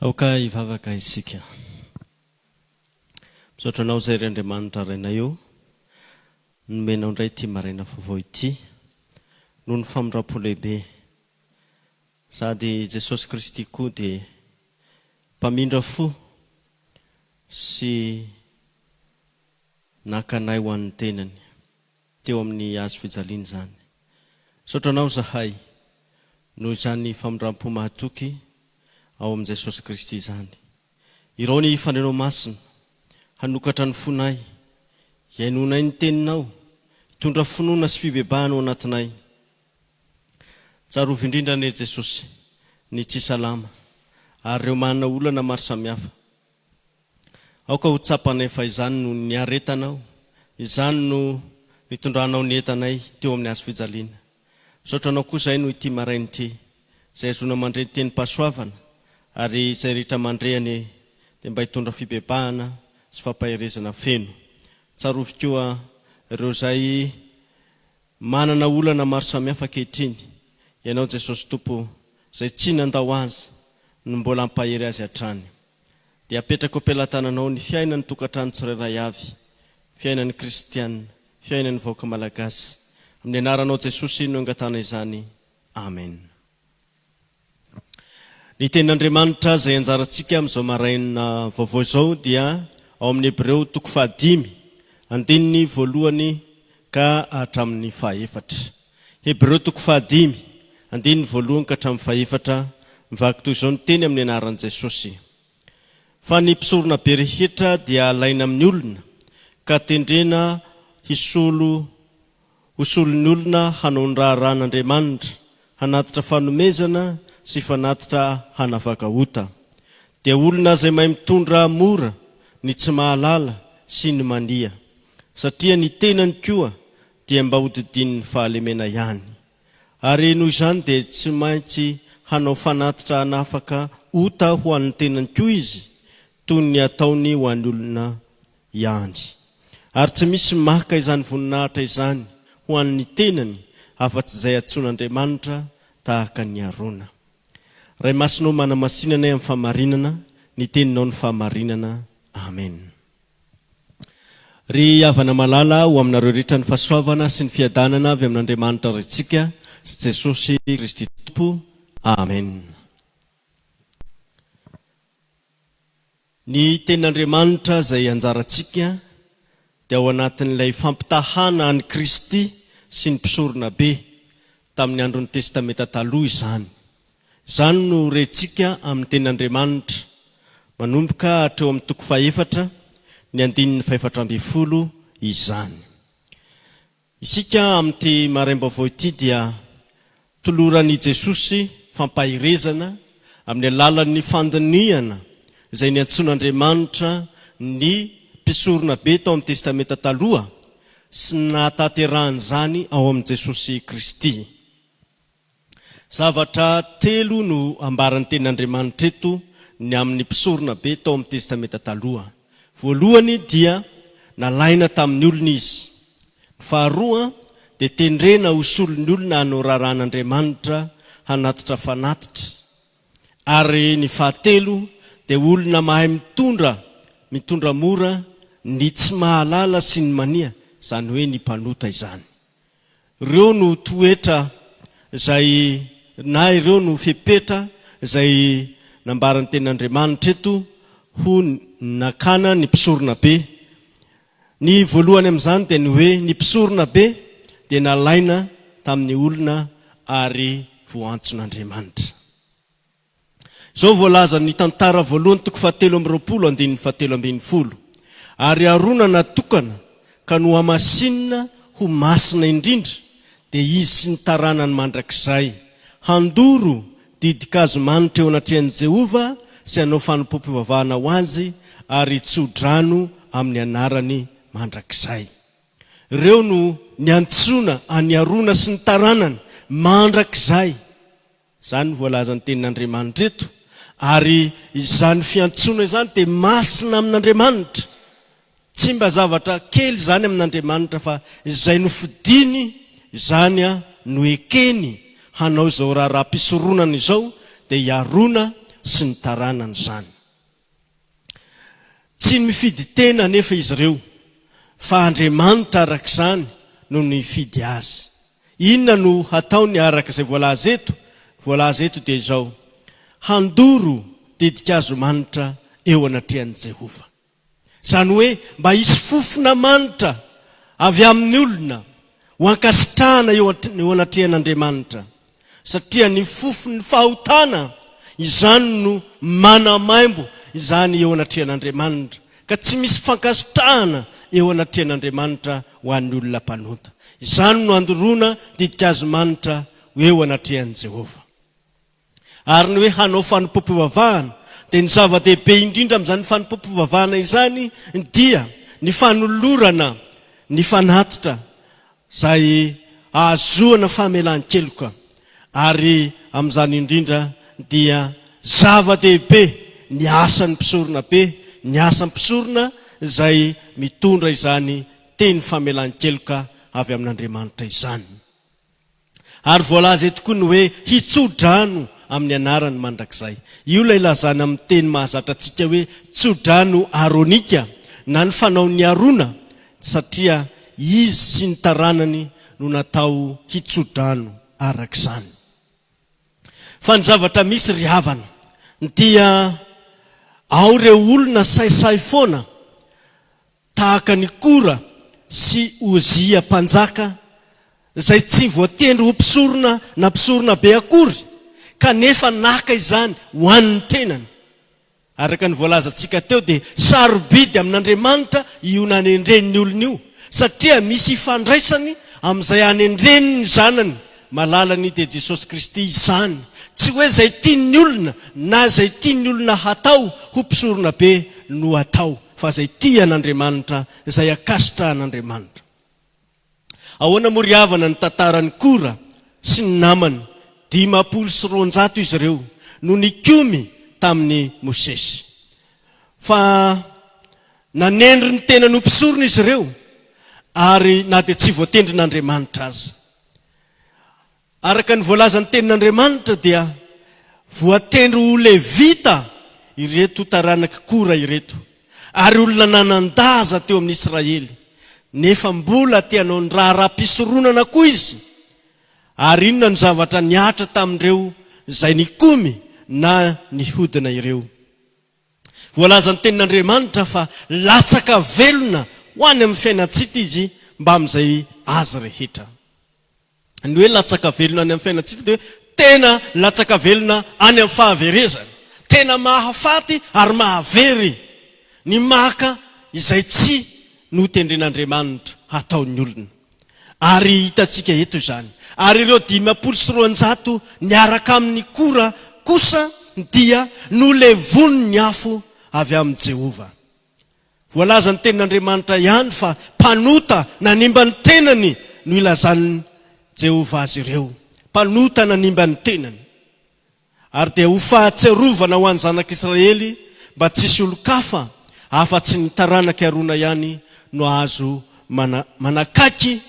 Aoka hivavaka isika. Misaotra Anao izay, ry Andriamanitra Rainay ô, nomenao indray ity maraina vaovao ity, noho ny famindram-po lehibe. Sady i Jesosy Kristy koa dia mpamindra fo sy naka anay ho an'ny tenany. teo amin'ny hazo fijaliana izany. Misaotra anao izahay noho izany famindram-po mahatoky ao amin'i Jesosy Kristy izany. Irao ny fanirianao masina, hanokatra ny fonay, hihainoanay ny teninao, hitondra finoana sy fibebahana ao anatinay. Tsarovy indrindra anie Jesosy ny tsy salama ary ireo manana olana maro samihafa. Aoka ho tsapanay fa izany no niaretanao, izany no nitondranao ny entanay teo amin'ny hazo fijaliana. Misaotra anao koa izahay noho ity maraina ity, izay ahazoana mandre ny tenim-pahasoavana, ary izay rehetra mandre anie dia mba hitondra fibebahana sy fampaherezana feno. Tsarovy koa ireo izay Manana olana maro samihafa ankehitriny ianao Jesosy Tompo o, izay tsy nandao Azy no mbola hampahery Azy hatrany. Dia apetrako am-pelatananao ny fiainan'ny tokantrano tsirairay avy, fiainan'ny kristiana, fiainan'ny vahoaka malagasy. Amin'ny anaranao Jesosy no angatahana izany. Amena. Ny Tenin'Andriamanitra izay anjarantsika amin'izao maraina vaovao izao dia ao amin'ny Hebreo toko fahadimy, andininy voalohany ka hatramin'ny fahaefatra. Hebreo toko fahadimy, andininy voalohany ka hatramin'ny fahefatra, mivaky toy izao ny teny amin'ny anaran'i Jesosy, Fa ny mpisoronabe rehetra dia alaina amin'ny olona ka tendrena hisolo Ho solon'ny olona hanao ny raharahan'Andriamanitra, hanatitra fanomezana sy fanatitra hanavaka ota. Dia olona izay mahay mitondra mora ny tsy mahalala sy ny mania, satria ny tenany koa dia mba hodidinin'ny fahalemena ihany. Ary noho izany dia tsy maintsy hanao fanatitra hanafaka ota ho an'ny tenany koa izy, toy ny ataony ho an'ny olona ihany, ary tsy misy maka izany voninahitra izany ho an'ny tenany afa-tsy izay antsoin'Andriamanitra tahaka ny Arona. Ray Masina ô manamasinanay amin'ny fahamarinana ny teninao ny fahamarinana. Amen. Ry havana malala, ho aminareo rehetra ny fahasoavana sy ny fiadanana avy amin'Andriamanitra Raintsika sy Jesosy Kristy Tompo. Amen. Ny Tenin'Andriamanitra izay anjarantsika dia ao anatin'ilay fampitahàna an'i Kristy sy ny mpisoronabe tamin'ny andron'ny Testamenta Taloha izany. Izany no rentsika amin'ny Tenin'Andriamanitra manomboka hatreo amin'ny toko fahefatra, ny andininy fahefatra ambin'ny folo izany. Isika amin'ity maraim-baovao ity dia toloran' i Jesosy fampaherezana amin'ny alalan'ny fandinihana izay niantsoan' Andriamanitra ny mpisoronabe tao amin'ny Testamenta Taloha sy ny nahatanterahan'izany ao amin'i Jesosy Kristy. Zavatra telo no ambaran'ny Tenin'Andriamanitra eto ny amin'ny mpisoronabe tao amin'ny Testamenta Taloha. Voalohany dia nalaina tamin'ny olona izy. Ny faharoa dia tendrena ho solon'ny olona hanao raharahan'Andriamanitra hanatitra fanatitra. Ary ny fahatelo dia olona mahay mitondra, mitondra mora ny tsy mahalala sy ny mania, izany hoe ny mpanota izany. Ireo no toetra izay na ireo no fepetra izay nambaran'ny tenin'Andriamanitra eto ho nakana ny mpisoronabe. Ny voalohany amin'izany dia ny hoe ny mpisoronabe dia nalaina tamin'ny olona ary voantson'Andriamanitra. Izao voalazan' ny Tantara voalohany toko fahatelo amby roapolo andininy fahatelo ambin'ny folo, Ary Arona natokana ka nohamasinina ho masina indrindra, dia izy sy ny taranany mandrakizay, handoro didin-kazo manitra eo anatrehan' i Jehovah sy hanao fanompoam-pivavahana ho azy ary hitso-drano amin' ny anarany mandrakizay. Ireo no niantsoana an' i Arona sy ny taranany mandrakizay. Izany no voalazan'ny Tenin'Andriamanitra eto, ary izany fiantsoana izany dia masina amin'Andriamanitra. Tsy mba zavatra kely izany amin'Andriamanitra, fa izay nofidiny, izany no ekeny hanao izao raharaham-pisoronana izao, dia hiarona sy ny taranany izany. Tsy mifidy tena anefa izy ireo, fa Andriamanitra araka izany no nifidy azy. Inona no hataony araka izay voalaza eto? Voalaza eto dia izao, Handoro didin-kazo manitra eo anatrehan'i Jehovah. Izany hoe mba hisy fofona manitra avy amin'ny olona ho ankasitrahana eo anatrehan'Andriamanitra. satria ny fofon'ny fahotana izany no manamaimbo izany eo anatrehan'Andriamanitra, ka tsy misy fankasitrahana eo anatrehan'Andriamanitra ho an'ny olona mpanota. Izany no andoroana didikazimanitra ho eo anatrehan'i Jehovah. Ary ny hoe hanao fanompoam-pivavahana, dia ny zava-dehibe indrindra amin'izany fanompoam-pivavahana izany dia ny fanolorana ny fanatitra izay ahazoana famelan-keloka ary amin'izany indrindra dia zava-dehibe ny asan'ny mpisorona be, ny asan'ny mpisorona izay mitondra izany teny famelan-keloka avy amin'Andriamanitra izany. Ary voalaza eto koa ny hoe hitso-drano amin'ny anarany mandrakizay. Io ilay lazana amin'ny teny mahazatra antsika hoe tso-drano aronika na ny fanaon'i Arona satria izy sy ny taranany no natao hitso-drano araka izany. Fa ny zavatra misy ry havana dia ao ireo olona sahisahy foana tahaka an'i Kora sy Ozia mpanjaka izay tsy voatendry ho mpisorona na mpisoronabe akory kanefa naka izany ho an'ny tenany. Araka ny voalazantsika teo dia sarobidy amin'Andriamanitra io nanendren'ny olona io satria misy ifandraisany amin'izay anendreny ny Zanany malalany dia Jesosy Kristy izany, tsy hoe izay tian'ny olona na izay tian'ny olona hatao ho mpisoronabe no atao fa izay tia an'Andriamanitra, izay ankasitrahan'Andriamanitra. Ahoana moa ry havana ny tantaran'i Kora sy ny namany? Dimampolo sy roanjato izy ireo no nikomy tamin'i Mosesy. Fa nanendry ny tenany ho mpisorona izy ireo, ary na dia tsy voatendrin'Andriamanitra aza. Araka ny voalazan'ny Tenin'Andriamanitra dia voatendry ho Levita ireto taranak'i Kora ireto, ary olona nanan-daza teo amin'ny Israely, nefa mbola te hanao ny raharaham-pisoronana koa izy. Ary inona no zavatra nihatra tamin'ireo izay nikomy na nihodina ireo? Voalazan'ny Tenin'Andriamanitra fa latsaka velona ho any amin'ny fiainan-tsita izy mbamin'izay azy rehetra. ny hoe latsaka velona any amin'ny fiainantsika dia hoe tena latsaka velona any amin'ny fahaverezana. Tena mahafaty ary mahavery ny maka izay tsy notendren'Andriamanitra hataon'ny olona. Ary hitantsika eto izany. Ary ireo dimampolo sy roanjato niaraka amin'i Kora kosa dia nolevonin'ny afo avy amin'i Jehovah. Voalaza ny Tenin'Andriamanitra ihany fa mpanota nanimba ny tenany no ilazan'i Jehovah azy ireo. Mpanota nanimba ny tenany. Ary dia ho fahatsiarovana ho an'ny zanak'Israely mba tsy hisy olon-kafa afa-tsy ny taranak'i Arona ihany no azo manakaiky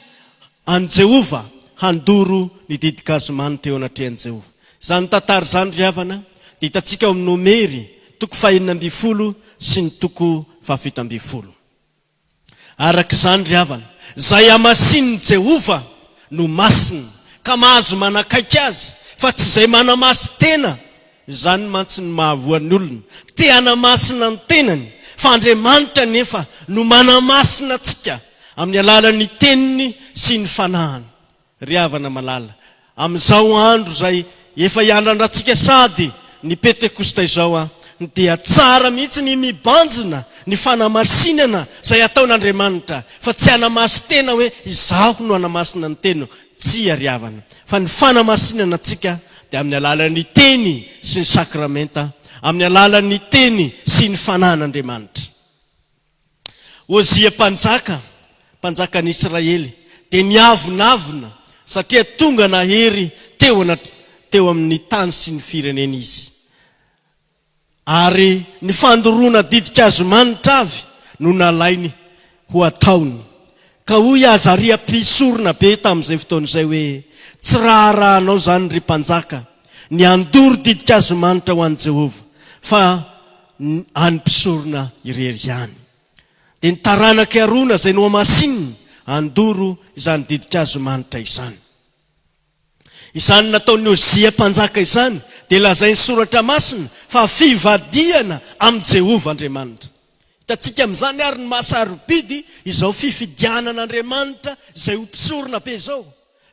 An'i Jehovah handoro ny didigazimaniny teo anatrehan'i Jehovah. Izany tantara izany, ry havana, dia hitantsika ao amin'ny Nomery toko fahenina ambin'ny folo sy ny toko fahafito ambin'ny folo. Araka izany, ry havana, izay hamasinin'i Jehovah no masina, ka mahazo manakaiky azy, fa tsy izay manamasin-tena Izany mantsy no mahavoa ny olona te hanamasina ny tenany, fa Andriamanitra anefa no manamasina antsika amin'ny alalan'ny Teniny sy ny Fanahiny. Ry havana malala, amin'izao andro izay efa hiandrandratsika sady ny Pentekosta izao dia tsara mihitsy ny mibanjina ny fanamasinana izay ataon'Andriamanitra, fa tsy hanamasin-tena hoe izaho no hanamasina ny teniko. Tsia ry havana, fa ny fanamasinana antsika dia amin'ny alalan'ny Teny sy ny Sakramenta, amin'ny alalan'ny Teny sy ny Fanahin'Andriamanitra. Ozia mpanjaka, mpanjakan'ny Israely, dia niavonavona satria tonga nahery teo teo amin'ny tany sy ny fireneny izy. Ary ny fandoroana ditin-kazomanitra avy no nalainy ho ataony. Ka hoy i Azaria mpisorona be tamin'izay fotoana izay hoe, Tsy raharahanao izany, ry mpanjaka, ny handoro ditin-kazomanitra ho an'i Jehovah, fa ny an'ny mpisorona irery ihany. Dia ny taranak'i Arona izay nohamasinina handoro izany ditin-kazomanitra izany. Izany nataon'i Ozia mpanjaka izany dia lazain'ny Soratra Masina fa fivadihana amin'i Jehovah Andriamanitra. Hitantsika amin'izany àry ny maha-sarobidy izao fifidianana Andriamanitra izay ho mpisorona be izao,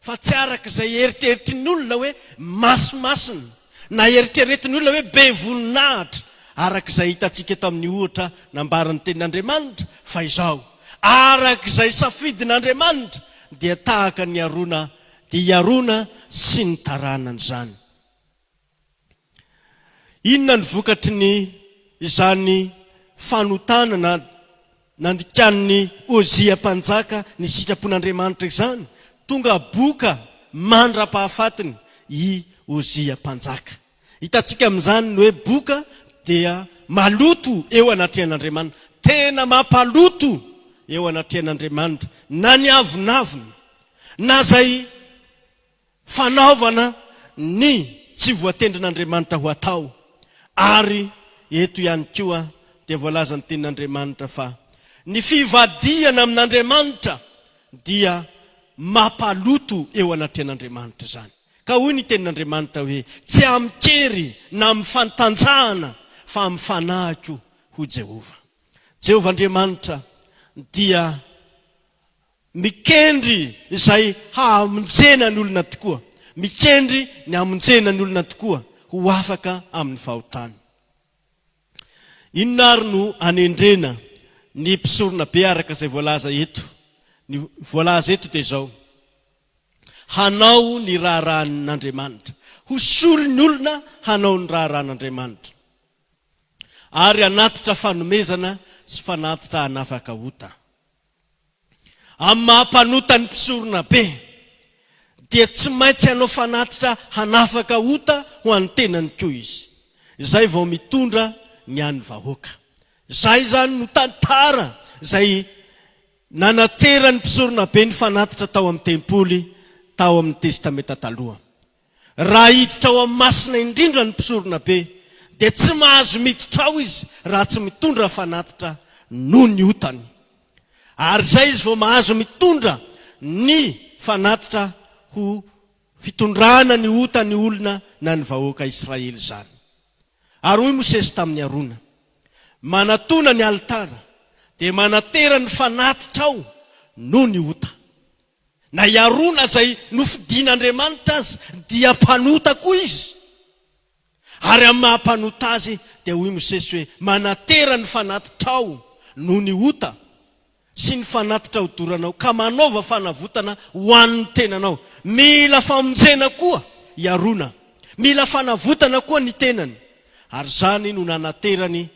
fa tsy araka izay eritreritry ny olona hoe maso masina, na eritreretin'ny olona hoe be voninahitra, araka izay hitantsika tamin'ny ohatra nambaran'ny Tenin'Andriamanitra, fa izao, araka izay safidin'Andriamanitra, dia tahaka ny harona dia i Arona sy ny taranany izany. Inona ny vokatry ny izany fanotanana nandikanin'i Ozia mpanjaka ny sitrapon'Andriamanitra izany? Tonga boka mandra-pahafatiny i Ozia mpanjaka. Hitantsika amin'izany ny hoe boka dia maloto eo anatrehan'Andriamanina. Tena mampaloto eo anatrehan'Andriamanitra na ny avonavona, na izay fanaovana ny tsy voatendrin'Andriamanitra ho atao. Ary eto ihany koa dia voalaza ny tenin'Andriamanitra fa ny fivadihana amin'Andriamanitra dia mampaloto eo anatrehan'Andriamanitra izany. Ka hoy ny tenin'Andriamanitra hoe, Tsy amin-kery na amin'ny fantanjahana fa amin'ny fanahiko, hoy Jehovah. Jehovah Andriamanitra dia mikendry izay hamonjena ny olona tokoa, mikendry ny hamonjena ny olona tokoa ho afaka amin'ny fahotany. Inona àry no anendrena ny mpisoronabe araka izay voalaza eto? Ny voalaza eto dia izao, hanao ny raharahan'Andriamanitra, ho solon'ny olona hanao ny raharahan'Andriamanitra, ary hanatitra fanomezana sy fanatitra hanafaka ota. Amin'ny maha mpanota ny mpisoronabe, dia tsy maintsy hanao fanatitra hanafaka ota ho an'ny tenany koa izy, izay vao mitondra ny an'ny vahoaka. Izay izany no tantara izay Nanateran'ny mpisoronabe ny fanatitra tao amin'ny tempoly tao amin'ny Testamenta Taloha. Raha hiditra ao amin'ny Masina Indrindra ny mpisoronabe, dia tsy mahazo miditra ao izy raha tsy mitondra fanatitra noho ny otany. Ary izay izy vao mahazo mitondra ny fanatitra ho fitondrana ny otan'ny olona na ny vahoaka Israely izany. Ary hoy Mosesy tamin'i Arona, Manatona ny alitara, dia manatera ny fanatitra ao noho ny ota. Na i Arona izay nofidin'Andriamanitra aza dia mpanota koa izy. Ary amin'ny maha mpanota azy dia hoy Mosesy hoe, Manatera ny fanatitra ao noho ny ota. sy ny fanatitra hodoranao ka manaova fanavotana ho an'ny tenanao. Mila famonjena koa i Arona, mila fanavotana koa ny tenany, ary izany no nanaterany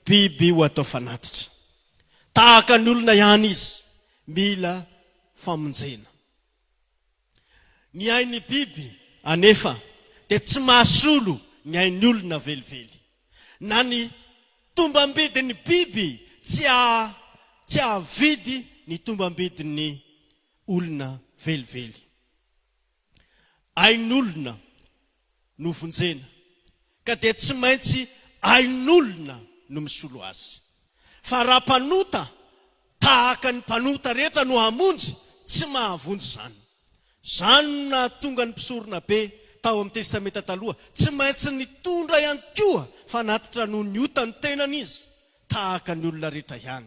biby ho atao fanatitra. Tahaka ny olona ihany izy, mila famonjena. Ny ain'ny biby anefa dia tsy mahasolo ny ain'ny olona velively. Na ny tombam-bidin'ny biby tsy tsy hahavidy ny tombam-bidin'ny olona velively. Ain'olona. no vonjena ka dia tsy maintsy ain'olona no misolo azy. Fa raha mpanota tahaka ny mpanota rehetra no hamonjy, tsy mahavonjy izany. Izany no nahatonga ny mpisoronabe tao amin'ny Testamenta Taloha tsy maintsy nitondra ihany koa fanatitra noho ny otan'ny tenany izy, tahaka ny olona rehetra ihany.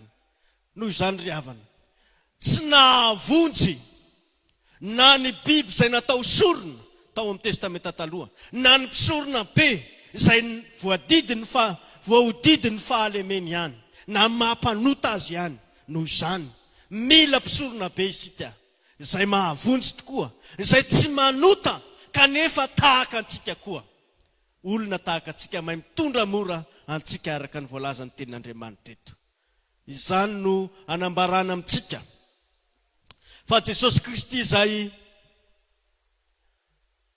Noho izany ry havana, tsy nahavonjy na ny biby izay natao sorona tao amin'ny Testamenta Taloha, na ny mpisorona be izay voadidin'ny fa voahodidin'ny fahalemeny ihany, na ny maha mpanota azy ihany. Noho izany, mila mpisorona be isika, izay mahavonjy tokoa, izay tsy manota kanefa tahaka antsika koa, olona tahaka antsika, mahay mitondra mora antsika araka ny voalazan'ny Tenin'Andriamanitra eto. Izany no anambarana amintsika fa Jesosy Kristy izay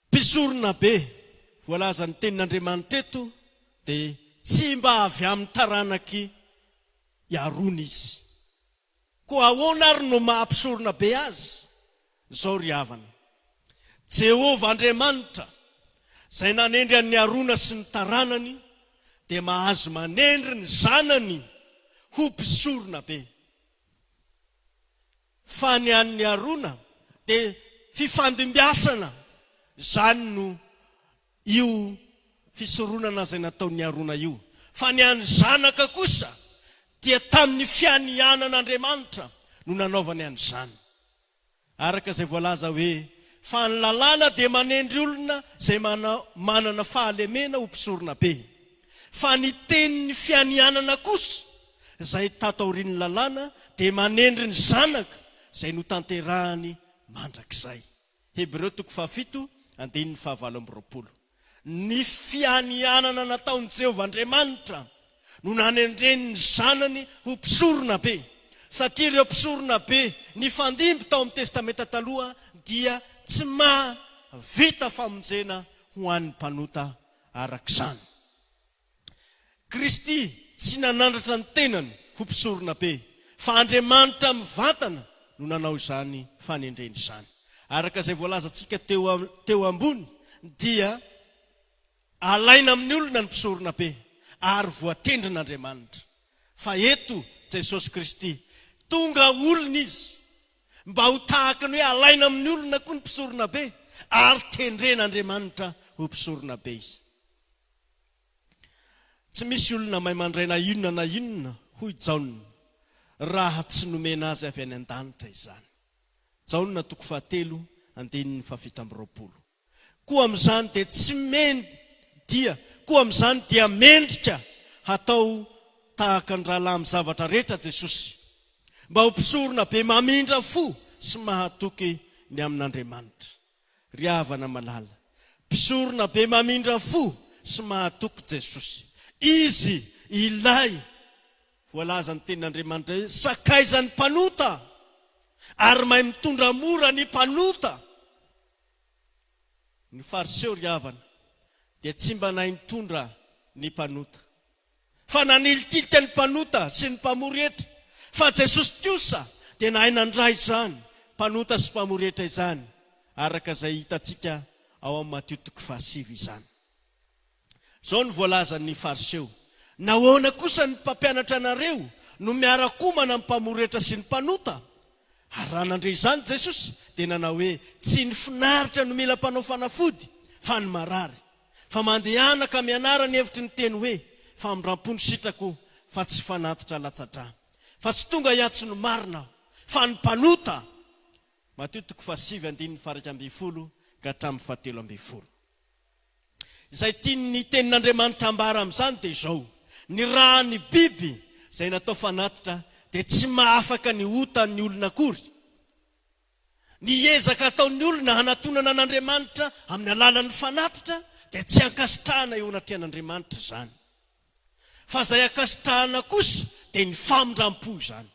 Mpisorona be voalazan'ny Tenin'Andriamanitra eto dia tsy mba avy amin'ny taranak'i Arona Izy. Koa ahoana ary no maha Mpisoronabe Azy? Izao ry havana, Jehovah Andriamanitra, izay nanendry an'i Arona sy ny taranany, dia mahazo manendry ny zanany ho mpisorona be. Fa ny an'i Arona dia fifandimbiasana, izany no io fisoronana izay nataon'i Arona io, fa ny an'ny zanaka kosa dia tamin'ny fianianan'Andriamanitra no nanaovany an'izany. Araka izay voalaza hoe, Fa ny lalàna dia manendry olona izay manana fahalemena ho mpisorona be, fa ny tenin'ny fianianana kosa, izay tato aorian'ny lalàna, dia manendry ny zanaka izay notanterahany mandrakizay. Hebreo toko fahafito, andininy fahavalo amby roapolo. Ny fianianana nataon'i Jehovah Andriamanitra no nanendreny ny Zanany ho Mpisoronabe, satria ireo mpisoronabe nifandimby tao amin'ny Testamenta Taloha dia tsy mahavita famonjena ho an'ny mpanota araka izany. Kristy tsy nanandratra ny tenany ho mpisoronabe, fa Andriamanitra mivantana no nanao izany fanendrena izany. Araka izay voalazantsika teo ambony dia alaina amin'ny olona ny mpisoronabe ary voatendrin'Andriamanitra. Fa eto Jesosy Kristy, tonga olona Izy mba ho tahaka ny hoe alaina amin'ny olona koa ny mpisoronabe ary tendren'Andriamanitra ho mpisoronabe Izy. Tsy misy olona maimandraina inona na inona, hoy Jaona, raha tsy nomena azy avy any an-danitra izany. Jaona toko fahatelo, andininy fahafito amby roapolo. Koa amin'izany dia tsy men dia, koa amin'izany dia mendrika hatao tahaka ny rahalahy amin'ny zavatra rehetra Jesosy, mba ho mpisorona be mamindra fo sy mahatoky ny amin'Andriamanitra. Ry havana malala, mpisorona be mamindra fo sy mahatoky Jesosy. Izy Ilay voalazan'ny Tenin'Andriamanitra hoe sakaizan'ny mpanota ary mahay mitondra mora ny mpanota. Ny Fariseo ry havana dia tsy mba nahay nitondra ny mpanota. fa nanilikilika ny mpanota sy ny mpamory hetra, fa Jesosy kosa dia nahay nandray izany mpanota sy mpamory hetra izany, araka izay hitantsika ao amin'ny Matio toko fahasivy izany. Izao no voalazan'ny Fariseo, Nahoana kosa ny mpampianatra anareo no miara-komana amin'ny mpamory hetra sy ny mpanota? Ary raha nandre izany Jesosy, dia nanao hoe, Tsy ny finaritra no mila mpanao fanafody, fa ny marary. Fa mandehana ka mianara ny hevitry ny teny hoe famindrampo ny sitrako fa tsy fanatitra latsa-drà. Fa tsy tonga hiantso ny marina aho, fa ny mpanota. Matio toko fahasivy andininy faharaika ambin'ny folo ka hatramin'ny fahatelo ambin'ny folo. Izay tian'ny Tenin'Andriamanitra ambara amin'izany dia izao, Ny rà ny biby izay natao fanatitra dia tsy mahafaka ny ota ny olona akory. Ny ezaka ataon'ny olona hanatonana an'Andriamanitra amin'ny alalan'ny fanatitra dia tsy ankasitrahana eo anatrehan'Andriamanitra izany. Fa izay ankasitrahana kosa dia ny famindram-po izany.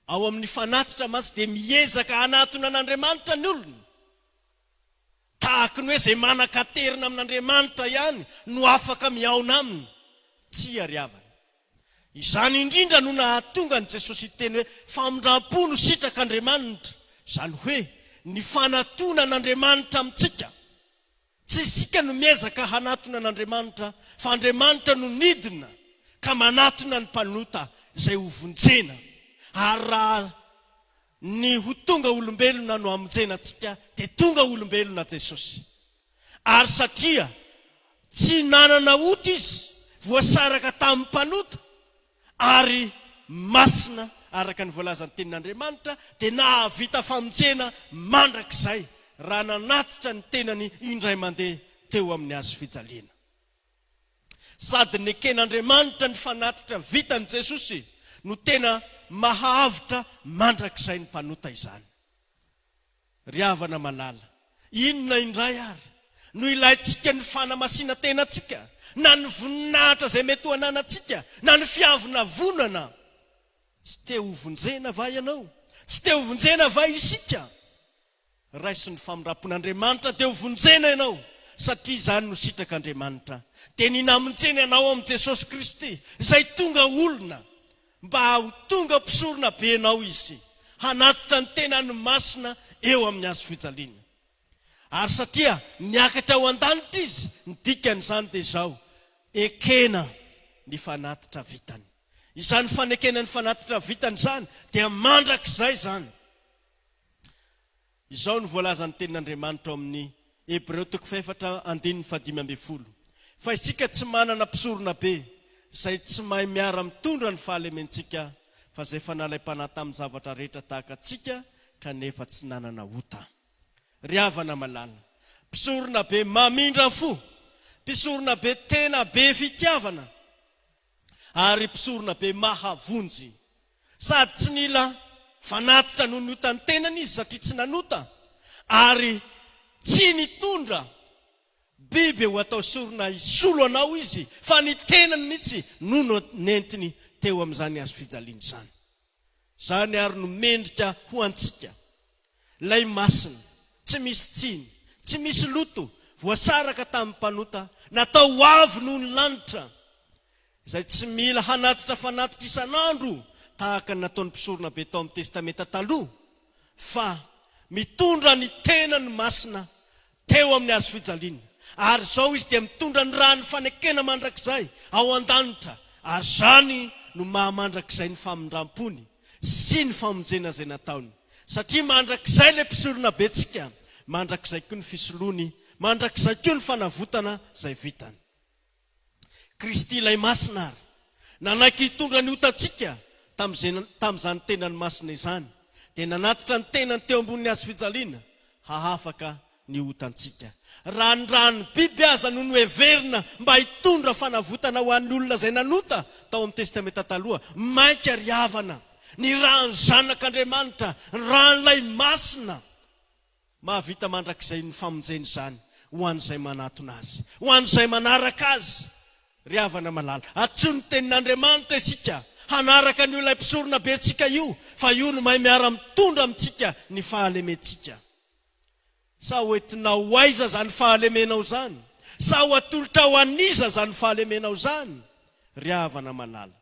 Ao amin'ny fanatitra mantsy dia miezaka hanatona an'Andriamanitra ny olona. Tahaka ny hoe izay manan-katerina amin'Andriamanitra ihany no afaka mihaona Aminy. Tsia, ry havana. Izany indrindra no nahatonga an'i Jesosy hiteny hoe famindram-po no sitrak'Andriamanitra, izany hoe ny fanatonan'Andriamanitra amintsika. Tsy isika no miezaka hanatona an'Andriamanitra, fa Andriamanitra no nidina ka manatona ny mpanota izay hovonjena, ary raha. Ny ho tonga olombelona no hamonjena antsika dia tonga olombelona Jesosy. Ary satria tsy nanana ota Izy, voasaraka tamin'ny mpanota, ary masina araka ny voalazan'ny Tenin'Andriamanitra, dia nahavita famonjena mandrakizay raha nanatitra ny tenany indray mandeha teo amin'ny hazofijaliana. Sady neken'Andriamanitra ny fanatitra vitan'i Jesosy no tena maha-avotra mandrakizay ny mpanota izany. Ry havana malala, inona indray ary no ilaintsika ny fanamasinan-tenantsika, na ny voninahitra izay mety ho ananantsika, na ny fiavonavonana? Tsy te hovonjena va ianao? Tsy te hovonjena va isika? raisin'ny famindram-pon'Andriamanitra dia hovonjena ianao satria izany no sitrak'Andriamanitra dia ny namonjeny anao amin'i Jesosy Kristy izay tonga olona mba ho tonga mpisorona benao Izy hanatitra ny tenany masina eo amin'ny hazo fijaliana ary satria niakatra ho an-danitra Izy ny dikan'izany dia izao ekena ny fanatitra vitany izany fanekena ny fanatitra vitany izany dia mandrakizay izany Izao no voalazan'ny Tenin'Andriamanitra ao amin'ny Hebreo toko fahefatra andininy fahadimy ambin'ny folo, Fa isika tsy manana mpisoronabe izay tsy mahay miara-mitondra ny fahalementsika, fa izay efa nalaim-panahy tamin'ny zavatra rehetra tahaka antsika, kanefa tsy nanana ota. Ry havana malala, mpisoronabe mamindra fo, mpisoronabe tena be fitiavana, ary mpisorona be mahavonjy. Sady tsy nila fanatitra noho ny otan'ny tenany izy satria tsy nanota, ary tsy nitondra biby ho atao sorona hisolo anao izy, fa ny tenany mihitsy no nentiny teo amin'izany hazofijaliana izany. Izany ary no mendrika ho antsika. Ilay masina, tsy misy tsiny, tsy misy loto, voasaraka tamin'ny mpanota, natao ho avo noho ny lanitra, izay tsy mila hanatitra fanatitra isan'andro tahaka ny nataon'ny mpisoronabe tao amin'ny Testamenta Taloha, fa mitondra ny tenany masina Teo amin'ny hazo fijaliana. Ary izao izy dia mitondra ny ràn'ny fanekena mandrakizay ao an-danitra, ary izany no maha mandrakizay ny famindram-pony sy ny famonjena izay nataony. Satria mandrakizay ilay Mpisoronabentsika, mandrakizay koa ny fisoloany, mandrakizay koa ny fanavotana izay vitany. Kristy Ilay Masina àry nanaiky hitondra ny otantsika tamin'izany Tenany Masina izany, dia nanatitra ny Tenany teo ambonin'ny hazofijaliana hahafaka ny otantsika. Raha ny ran'ny biby aza no noheverina mba hitondra fanavotana ho an'ny olona izay nanota tao amin'ny Testamenta Taloha, mainka ry havana, ny ran'ny Zanak'Andriamanitra, ny ran'Ilay Masina, Mahavita mandrakizay ny famonjena izany ho an'izay manatona Azy, ho an'izay manaraka Azy. Ry havana malala, antsoy ny Tenin'Andriamanitra isika hanaraka an'io Ilay Mpisoronabentsika io, fa Io no mahay miara-mitondra amintsika ny fahalementsika. Sa hoentinao ho aiza izany fahalemenao izany? Sa ho atolotrao an'iza izany fahalemenao izany, ry havana malala?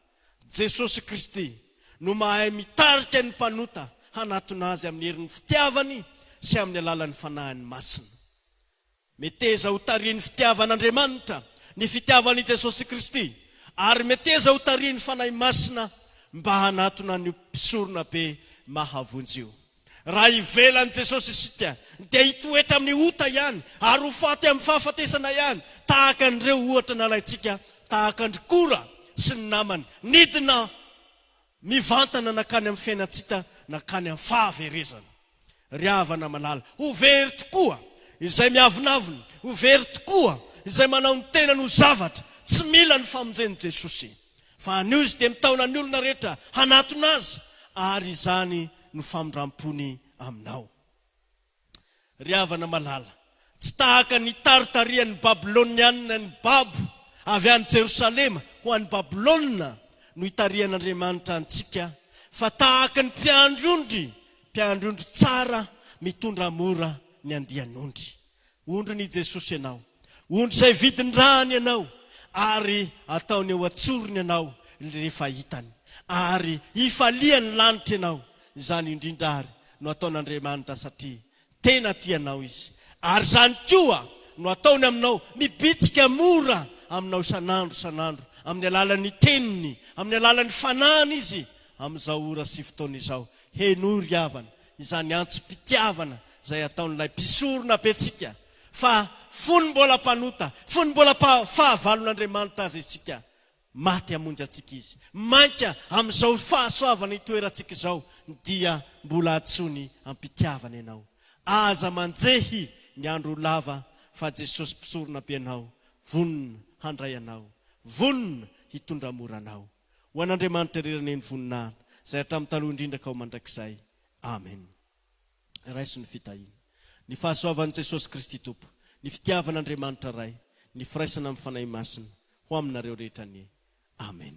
Jesosy Kristy no mahay mitarika ny mpanota hanatona Azy amin'ny herin'ny fitiavany sy amin'ny alalan'ny Fanahiny Masina. Meteza ho tarihin'ny fitiavan'Andriamanitra ny fitiavan'i Jesosy Kristy ary meteza ho tarihin'ny Fanahy Masina mba hanatona an'io Mpisoronabe mahavonjy io. Raha ivelan'i Jesosy isika, dia hitoetra amin'ny ota ihany ary ho faty amin'ny fahafatesana ihany, tahaka an'ireo ohatra nalaintsika tahaka an-dry Kora sy ny namany nidina mivantana nankany amin'ny fiainantsika nankany amin'ny fahaverezana. Ry havana malala, ho very tokoa izay miavonavona, ho very tokoa izay manao ny tenany ho zavatra tsy mila ny famonjen'i Jesosy. Fa anio izy dia mitaona ny olona rehetra hanatona azy, ary izany no famindram-pony aminao. Ry havana malala, tsy tahaka ny taritarian'ny Babylonianina ny babo avy any Jerosalema ho any Babylona no itarihan'Andriamanitra antsika, fa tahaka ny mpiandry ondry, mpiandry ondry tsara mitondra mora ny andian'ondry. Ondrin' i Jesosy ianao. Ondry izay vidin-drany ianao, ary ataony eo an-tsorony ianao rehefa hitany. Ary hifalia ny lanitra ianao. Izany indrindra àry no ataon' Andriamanitra satria tena tia anao Izy. Ary izany koa no ataony aminao, mibitsika mora aminao isan'andro isan'andro amin'ny alalan' ny Teniny, amin'ny alalan' ny Fanahiny Izy, amin' izao ora sy fotoana izao. Henoy ry havana izany antsom-pitiavana Izay ataon'ilay mpisorona betsika, fa fony mbola mpanota, fony mbola fahavalon'Andriamanitra aza isika, maty hamonjy antsika Izy. Mainka amin'izao fahasoavana itoerantsika izao, dia mbola antsoiny am-pitiavana ianao. Aza manjehy ny andro ho lava, fa Jesosy Mpisorona be anao, vonona handray anao, vonona hitondra mora anao. Ho an'Andriamanitra irery anie ny voninahina, izay hatramin'ny taloha indrindra ka ho mandrakizay. Amen. Raiso ny fitahiana. Ny fahasoavan'i Jesosy Kristy Tompo, ny fitiavan'Andriamanitra Ray, ny firaisana amin'ny Fanahy Masina ho aminareo rehetra anie. Amen.